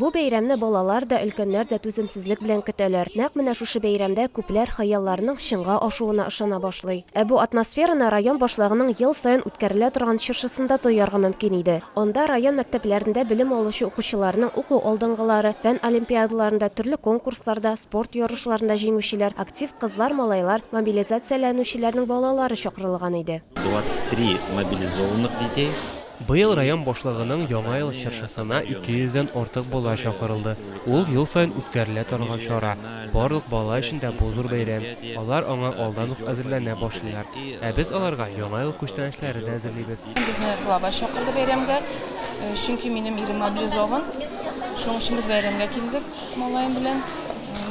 Бу бәйрәмне балалар да, өлкәннәр дә түземсезлек белән көтәләр. Нәкъ менә шушы бәйрәмдә күпләр хыялларының чынга ашуына ышана башлый. Ә бу атмосфераны район башлыгының ел саен үткәрелә торган чыршысында тоярга мөмкин иде. Анда район мәктәпләрендә белем алучы укучыларның уку алдынгылары, фән олимпиадаларында, төрле конкурсларда, Спорт ярышларында җиңүчеләр, актив кызлар-малайлар, мобилизацияләнүчеләрнең балалары чакырылган иде. 23 мобилизованных детей. Быел район башлыгының Яңа ел чыршысына 200 дән артык бала чакырылды. Ул, ел саен үткәрелә торган чара. Барлык бала өчен дә бу зур бәйрәм. Алар аңа алдан ук әзерләнә башлыйлар. Ә без аларга Яңа ел күчтәнәчләре дә әзерлибез. Безне главач чакырды бәйрәмгә, чөнки минем ирем мобилизован. Шуның өчен без бәйрәмгә килдек. Малаем белән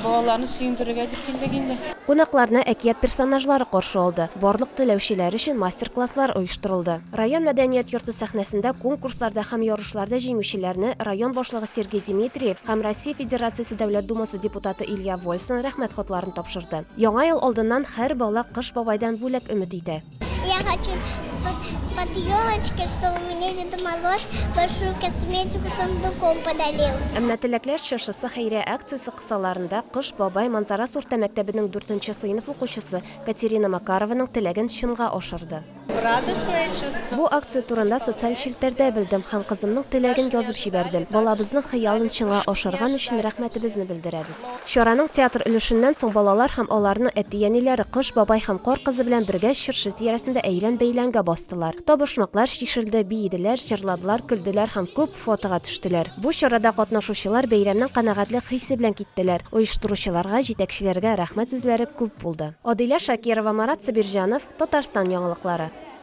балаларны сөендерергә дип килдек инде. Кунакларны әкият персонажлары каршы алды, барлык теләүчеләр өчен мастер-класслар оештырылды. Район мәдәният йорты сәхнәсендә конкурсларда һәм ярышларда җиңүчеләрне район башлыгы Сергей Димитриев һәм Россия Федерациясе Дәүләт Думасы депутаты Илья Вольсын Рәхмәт хатларын тапшырды. Яңа ел алдыннан һәр бала Кыш бабайдан бүләк өмет итә. Я хочу под, под елочкой, чтобы мне Дед Мороз большую косметику сундуком подарил. Әмма теләкләр чыршысы хәйрия акциясе кысаларында Кыш бабай Манзарас урта мәктәбенең 4 сыйныф укучысы Катерина Макарованың теләген чынга ашырды. Бу акция турында социаль челтәрдә белдем һәм кызымның теләген язып җибәрдем. Балабызның хыялын чыңа ашырган өчен рәхмәтебезне белдерәбез. Чараның театр өлешеннән соң балалар һәм аларның әти-әниләре Кыш бабай һәм Кар кызы белән бергә чыршы тирәсендә әйлән-бәйләнгә бастылар. Табышмаклар чишелде, биеделәр, җырладылар, көлделәр һәм күп фотога төштеләр. Бу чарада катнашучылар бәйрәмнең канәгатьлек хисе белән киттеләр. Оештыручыларга, җитәкчеләргә рәхмәт сүзләре күп булды. Адилә Шакирова, Марат Сабирҗанов, Татарстан яңалыклары.